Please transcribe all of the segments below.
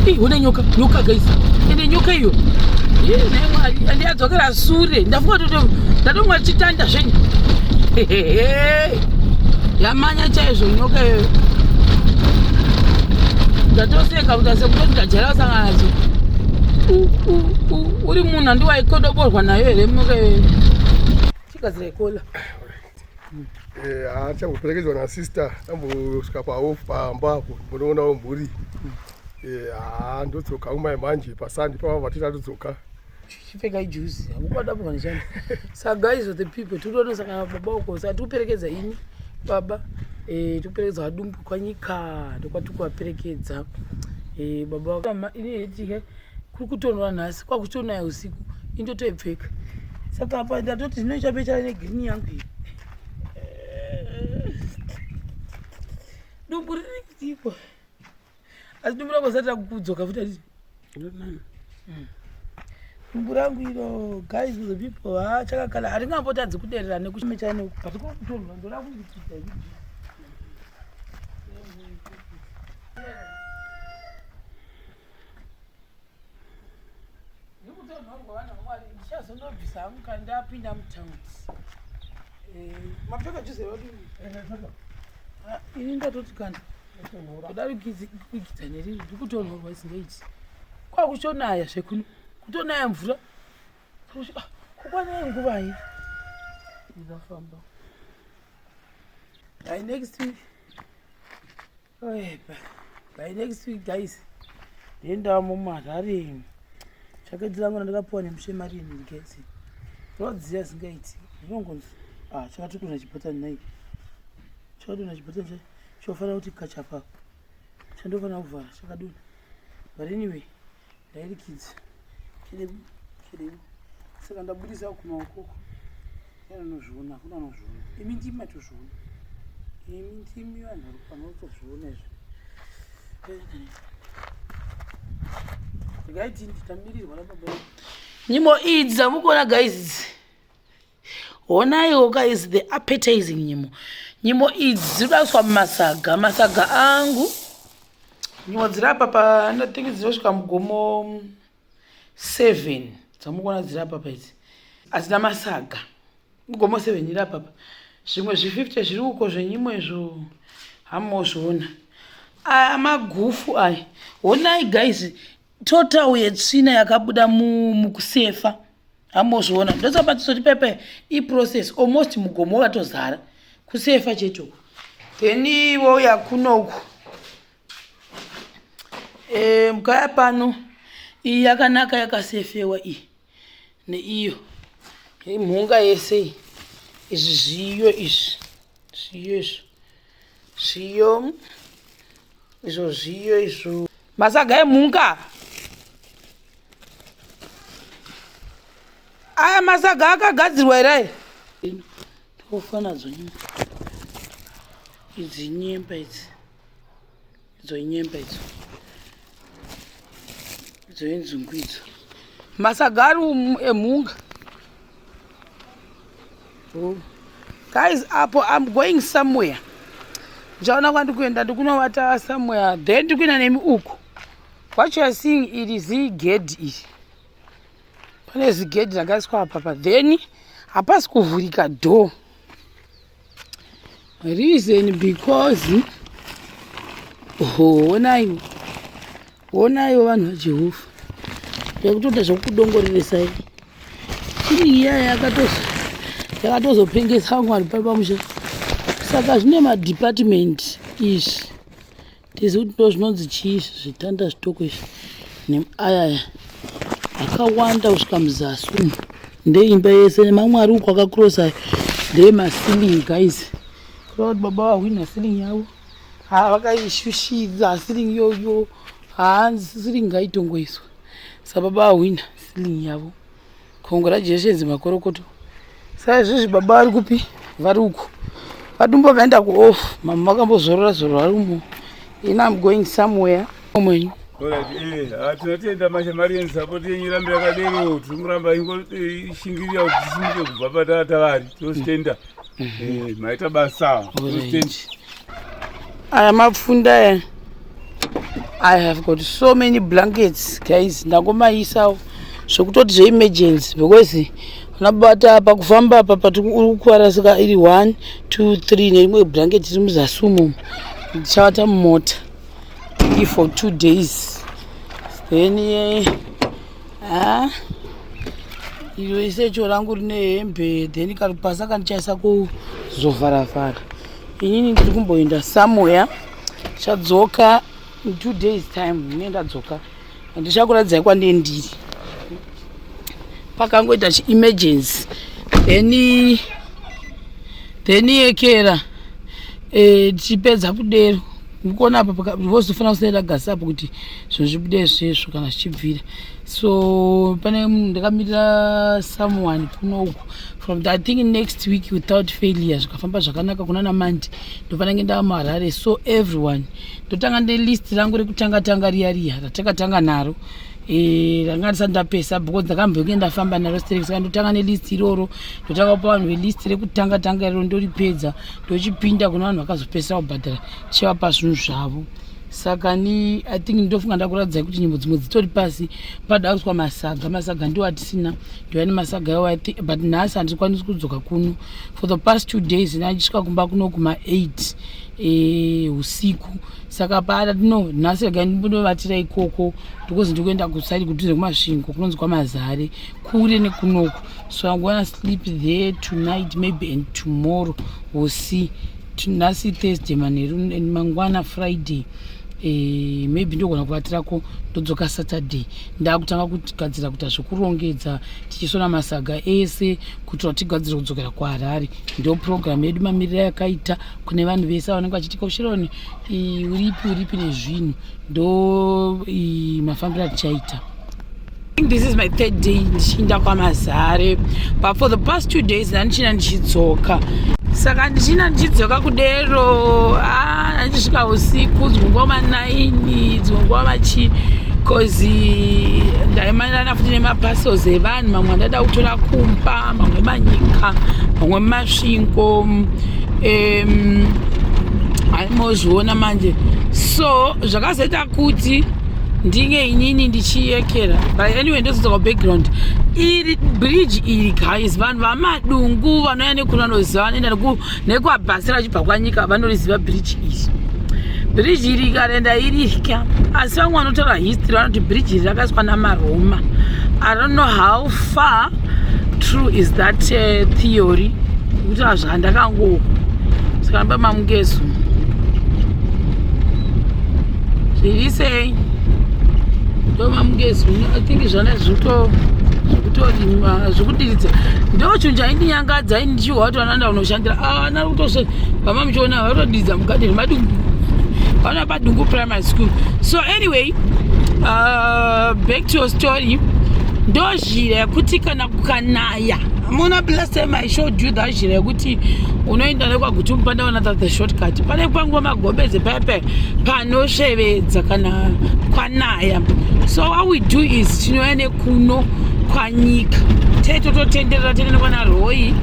Hey, hona nyoka nyoka guys ende nyoka iyo andiyadzokera sure ndafunga toto ndatonga chitanda zvenyu yamanya chaizvo nyoka iyo ndatoseka kuti ase kutoti ndajera kusangana nadzo uri munhu andiwaikodoborwa nayo here nyoka iyo chigadzira ikola Eh, achakuperekedzwa na sister tambosvika paof pamba apo mbonoonawo mhuri eh, haa ndodzoka umai manje pasandi pava vatita todzoka chipfeka ijuzi hakukwadapokanishani sa guys of the people tiritonesa kana baba uko sa tikuperekedza ini baba eh, tikuperekedza vadumbu kwanyika ndokwatikuvaperekedza baba kuri kutonwa nhasi kwakutonaya usiku indotoipfeka saka apa ndatoti zvino chapechana negreen yangu iyi dumbu riri kutipo asi dumbu rangu asati rakukudzoka futi ati hmm. dumbu rangu iro guys the people hachakakala haringambotadzi kuderera nekuchimechana neuku but kuri kutonwa ndorakuiiita ndikutonhorwa vanhu vamwari ndichazonobvisa hangu kana ndapinda mutaundi eh, mapfeka juze vadi ah, ini ndatoti kana kudari kuigidza neriri ndikutonhorwa isingaiti kwakuchonaya zvekuno kutonaya mvura ah, kukwanai nguvai ndinafamba i next week Oepa, by next week guys, ndiendawo mumarari. Chakadzi langu randakapuwa nemushe mari ini ndikesi. Rodziya zingaiti. Ndinongonzi. Ah, chakati kuna chipata nai. Chakati kuna chipata nje. Chofana kuti kachapa. Chandofana kuvara chakaduna. But anyway, ndairikidza chiribu chiribu saka ndabudisa kuma ukoko anozviona kuna anozviona imi ndimi matozviona imi ndimi vanhu vari pano tozviona izvi ndikaiti nditamirirwa nababa nyimo idzi dzamukuona gaizi idzi honaiwo guys the appetizing nyimo nyimo idzi dziri kudaiswa mumasaga masaga angu nyimo dziri apa pa ndathingi dzinosvika mugomo seven dzamukuona dziri apa pa idzi hadzina masaga mugomo seven iri apapa zvimwe zvififty zviri uko zvenyimo izvo hamozviona aya magufu aya honai guys total yetsvina yakabuda mukusefa hamozviona ndosapa tisoti pepe iprocess almost mugomo wakatozara kusefa chete uku then wouya kuno uku e, eh, mukaya pano iyi yakanaka yakasefewa iyi neiyo imhunga yese iyi izvi zviyo izvi zviyo izvo zviyo izvo zviyo izvo masaga emhunga aya masaga akagadzirwa here aya tofa nadzo nyemba idzi nyemba idzi idzo inyemba idzo idzo inzungu idzo masagari emhunga oh. guys apo im going somewhere ndichaona kwandi kuenda ndikunovata somewhere then ndikuenda nemi uku what youare seeing iri zigedhi iri pane zigedhi rakaiswa apapa then hapasi kuvhurika door reason because honaiwo honaiwo vanhu vajehova yakutoita zvekukudongoreresai chini iyaya yakatozopengesa vamwari papamusha saka zvine madhipatimendi izvi tizi kuti ndo zvinonzi chii izvi zvitanda zvitoko izvi neayaya akawanda kusvika muzasi umu ndeimba yese nemamwe ari uku akakurosa ndeemasilingi guys kureva kuti baba vahwina silingi yavo ha vakaishushidza silingi yoyo haa silingi ngaitongoiswa sababa vahwina silingi yavo Congratulations makorokoto. Sasa izvozvi baba vari kupi? Vari uko. Vadumbu vakaenda kuoff. Mama vakambozorora zorora vari umo. Ini I'm going somewhere. Omwenyu. Eh, ah, tinotenda mashe mari yeni sapoti yenyu irambe yakadero tiri kuramba ingoti eh, ishingirira kuti tisimuke kubva patata vari tinozvitenda mm. Eh, maita basa aya mapfunda aya i have got so many blankets guys ndangomayisawo zvekutoti zveemergency because nabata apa kufamba apa pati uri kukuvara saka iri one two three nerimwe blanket iri muzasi umomo ndichavata mumota for two days then yeah. haa iro ise cho rangu rine hembe then karipasa kandichaisa kuzovharavhara inini ndiri kumboenda samoya chadzoka in two days time ne ndadzoka handichakuratidzai kwandie ndiri pakangoita chiemergency then then yekera eh, tichipedza kudero ndikuona apa vozofanira kusaira gasi apo kuti zvinhu zvibude zvesvo kana zvichibvira so pane ndakamirira someone kuno uku from the, i think next week without failure zvikafamba zvakanaka kuna namandi ndofanenge ndava muharare so everyone ndotanga nelist rangu rekutanga tanga riya riya ratakatanga naro Eh, ndanga ndisati ndapesa because ndakamboinge ndafamba naro straight saka ndotanga nelist iroro ndotanga kupa vanhu velist rekutanga tanga iroro ndoripedza ndochipinda kuna vanhu vakazopesa kubhadhara tichivapa zvinhu zvavo saka ni i think ndofunga ndakuratidzai kuti nyimbo dzimwe dzitori pasi pada kuswa masaga masaga ndiwo atisina ndiwa nemasaga yawo but nhasi handikwanisi kudzoka kuno for the past two days ndandisvika kumba kuno kuma eight eh, usiku e, saka paada tino nhasi rega ndinovatira ikoko because ndikuenda kusaidi kudhuze kumasvingo kunonzi kwamazare kure nekunoku so i'm gonna sleep there tonight maybe and tomorrow will see nhasi thursday manheru and mangwana friday Eh, maybe ndogona kuvatirako ndodzoka saturday ndakutanga kugadzira kuita zvekurongedza tichisona masaga ese kuitira kuti tigadzire kudzokera kuharare ndoprogramu yedu mamiriro yakaita kune vanhu vese vanenge vachitika ushironi uripi uripi nezvinhu ndo mafambiro atichaita this is my third day ndichiinda kwamazare but for the past two days ndandichina ndichidzoka saka ndichina ndichidzoka kudero ah, ndandisvika usiku dzimwe nguva manaini dzimwe nguva vachii bcause ndaimanirana futi nemaparcels evana mamwe andada kutora kumba mamwe manyika mamwe masvingo um, aimozviona manje so zvakazoita kuti ndinge inini ndichiyekera but anyway ndozodzoka background iri bridge iri guys vanhu vamadungu vanouya nekunanoziva vanoenda neku nekuabhasira vachibva kwanyika vanoriziva bridge iri bridge iri karenda iritya asi vamwe vanotaura history vanoti bridge iri rakaiswa namaroma i don't know how far true is that uh, theory kuti azvandakangoku saka ndoba mamukezu zviri sei ndo mamukezu i think zvana zvikuto zvikutorimwa zvikudiridza ndo chinhu chaindinyangadza Chiwa watu wanaenda unoshandira ah na kutoshe kama mchiona watu diza mkate ni madu wana pa dungu primary school so anyway uh, back to your story ndo zhira yekuti kana kukanaya mona blast time i showed you that zhira yekuti unoenda nekwaguti mupanda wana that the shortcut pane kwanguva magobeze pepe panoshevedza kana kwanaya so what we do is tinoenda kuno kwanyika tee tototenderera tinoenda kwana roi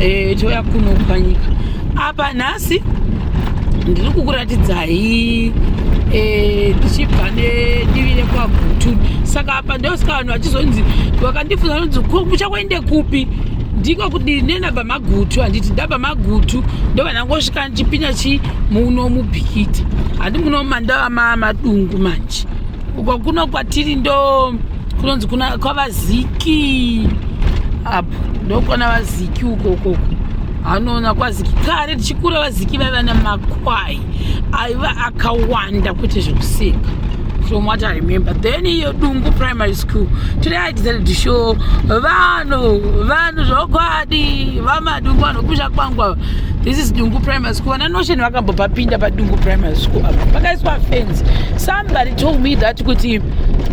eh, touya kuno kwanyika apa nhasi ndiri kukuratidzai eh, ndichibva nedivi rekwagutu saka apa ndosika vanhu vachizonzi vakandifunza vanonzi kuchakuende kupi ndiko kudii nenaba magutu handiti ndaba magutu ndovanangosvika ndichipinda chii muno mubhikiti handi muno mandava madungu manje uko kuno kwatiri ndo kunonzi kuna kwavaziki apo ndokwana vaziki uko ukoko anoona kwaziki kare tichikura vaziki vaiva nemakwai aiva akawanda kwete zvekuseka from what i remember then iyo dungu primary school today i decided to show vanhu vanhu zvokwadi vamadungu vanhu kusha kwangu this is dungu primary Vana Notion vakambopapinda paDungu Primary School apa pakaiswa fence. Somebody told me that kuti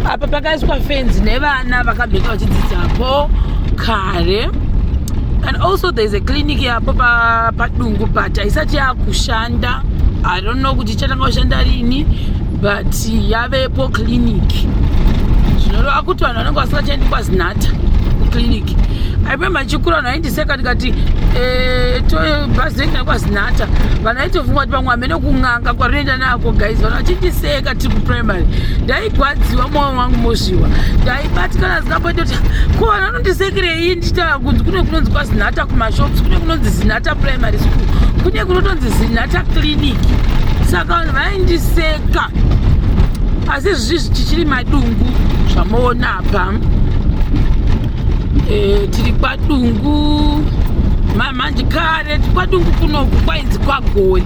apa pakaiswa fence nevana vakabveka vachidzidzapo kare and also there is a clinic yapo padungu but haisati yakushanda i don't know kuti ichatanga kushanda rini but yavepo clinic zvinoreva kuti vanhu vanenge vasingachaendi kwazinata kuclinic i remember chikura vanhu seka ndikati eh, bhazi rengina kwazinhata vana itofunga kuti pamwe amene kun'anga kwarinoenda nako guys vana vachindiseka tiri kuprimary ndaigwadziwa mwoyo wangu mozviwa ndaibatikana zikamboita kuti ko vana anondisekerei ndichitaura kunzi kune kunonzi kwazinhata kumashops kune kunonzi zinhata primary school kune kunotonzi zinhata clinic saka vanhu vaindiseka asi zvizvi tichiri madungu zvamoona apa Eh, tiri kwadungu mamanje kare kwadungu kunoku kwainzi kwagori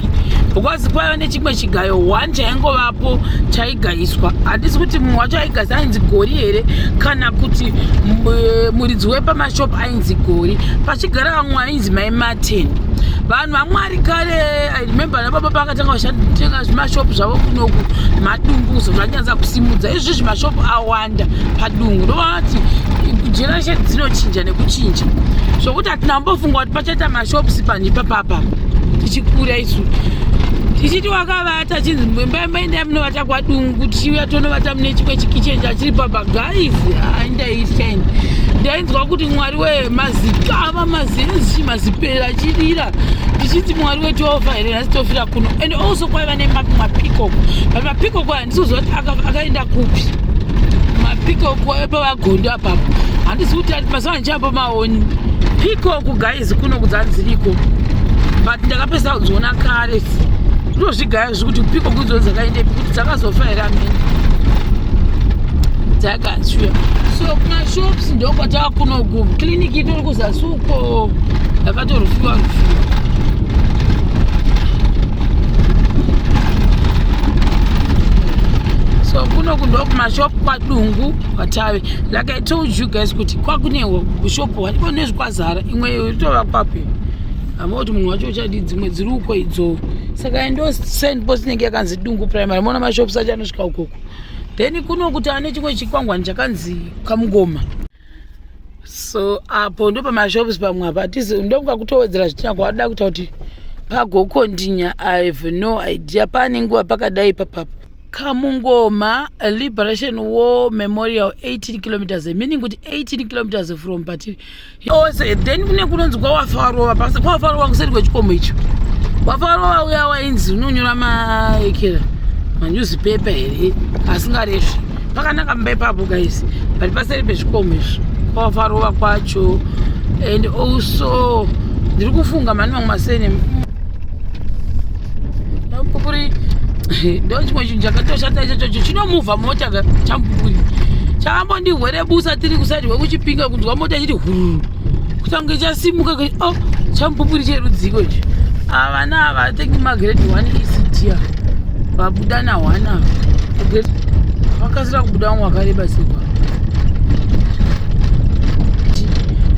because kwaiva nechimwe chigayo one chaingovapo chaigayiswa handisi kuti mumwe wacho aigayisa ainzi gori here kana kuti eh, muridzi wepamashop ainzi gori pachigara vamwe ainzi mai martin vanhu vamwari kare i remember nababa pakatanga vachatenga zvimashopu zvavo kunoku madungu zvanyanza kusimudza izvi zvimashopu awa zvakawanda padungu ndovati generation dzinochinja nekuchinja zvokuti hatina kumbofunga kuti pachaita mashops panhi papapa tichikura isu tichiti wakavata chinzi mbaimbaindai munovata kwadungu tichiuya tonovata mune chimwe chikichen chachiri papa guys aindaitani ndainzwa kuti mwari wemazikava mazienzi mazipera chidira ndichinzi mwari wetiofa here nhasi tofira kuno and also kwaiva nemapikoko but mapikoko sizoti akaenda kupi mapikoku ayo pavagondo apapo handisi kuti mazuva ndichapa maoni pikoku guys kuno kudzanziriko but ndakapesa kudziona kare ndozvigaya zvekuti pikoku idzo dzakaendepi kuti dzakazofa here amene dzakashuya so kumashops ndokwatava kuno kuclinic itori kuzasuko Atorufura rufura. So kuno kundo kumashop kwadungu kwatave like I told you guys kuti kwakune shop waliko nezvikwazara imwe yotova kwapi hama kuti munhu wacho uchadi dzimwe dziri uko idzo saka endo send post inenge yakanzi dungu primary mona mashops acho anosvika ukoko then kuno kuti ane chimwe chikwangwani chakanzi kamugoma so apo ndo pamashops pamwe apa atizi ndokuda kutowedzera zvitina kwaada kuita kuti pagokondinya i have no idea paane nguva pakadai papapo kamungoma liberation war memorial 18 kilometers meaning kuti 18 kilometers from patiri ose then kune kunonzi kwawafarova pasi kwawafarova kuseri kwechikomo icho wafarova uya wainzi unonyora maekera manyuzipepa here asingaresvi pakanaka mumba ipapo guys but paseri pezvikomo izvo pavafarova kwacho and also ndiri kufunga mani mamwe masene champupuri ndo chimwe chinhu chakatoshata ichochocho chinomuvha mota champupuri chakambondihwere busa tiri kusaidi wekuchipinga kunzwa mota chiti hururu kutange chasimuka o oh, chamupupuri cherudziko ichi havana ah, havatengi magrade one isitia vabuda na one ava vakasira kubuda vamwe vakareba sekwa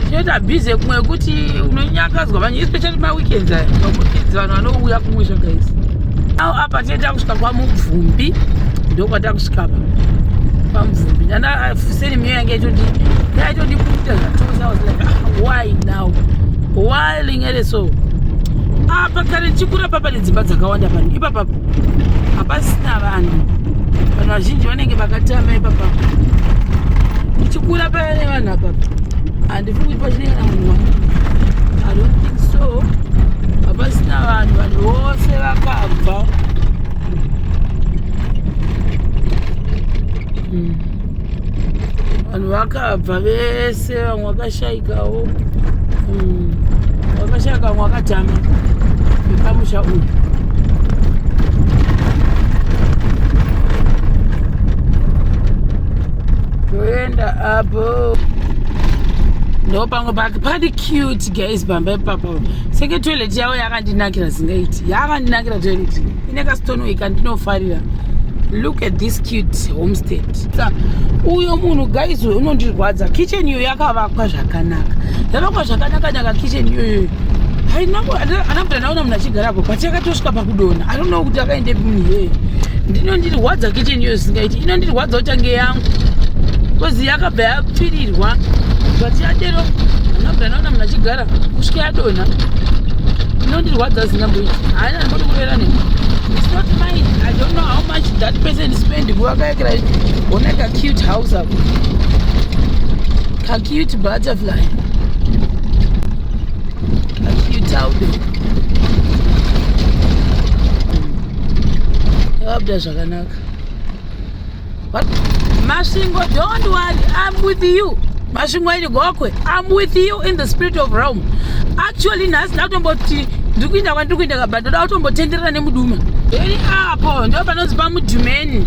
chinoita busy kumwe yekuti unonyakadzwa vanye especially maweekends aya maweekends vanhu vanouya kumwe zvakaisa ao apa tinoita kusvika kwamubvumbi ndokwatakusvika pa pamubvumbi film iyo yange yaitodi yaitodi kuita zvatozi i was like ah, why now why lingere so apa kare chikura papa nedzimba dzakawanda pano ipapapa hapasina vanhu vanhu vazhinji vanenge vakatama ipapa ndichikura paya nevanhu apapa handifi kuti pachinenge na munhu wangu i don't think so hapasina vanhu vanhu vose vakabva mm. vanhu vakabva vese vamwe vakashaikawo hmm. vakashaika vamwe vakatama vepamusha uyu toenda apo ndo pamwe pake pati cute guys pamba ipapa seke toilet yavo yakandinakira zingaiti yakandinakira toilet ine kastonweka ndinofarira look at this cute homestead uyo munhu guys uyo unondirwadza kitchen iyo yakavakwa zvakanaka yavakwa zvakanaka naka kitchen iyoyo haina kuti ndaona munhu achigarapo but yakatosvika pakudona i don't know kuti akaende munhu iyoyo ndinondirwadza kitchen iyoyo singaiti inondirwadza kuti ange yangu bcause yakabva yapfirirwa but yadero haina kuti ndaona munhu achigara kusvika yadonha inondirwadza zinambo ichi haina ndibodi kurera neni it's not mine i don't know how much that person spend kuwakayakira ona kacute house ako kacute butterfly kacute audo yavabuda zvakanaka What? Masvingo, don't worry, I'm with you. Masvingo ini gokwe, I'm with you in the spirit of realm. Actually, nhasi ndakutomboti ndiri kuinda kwandiri kuinda kabha ndoda kutombotenderera nemuduma. Ini apo ndo panonzi pamudhumeni.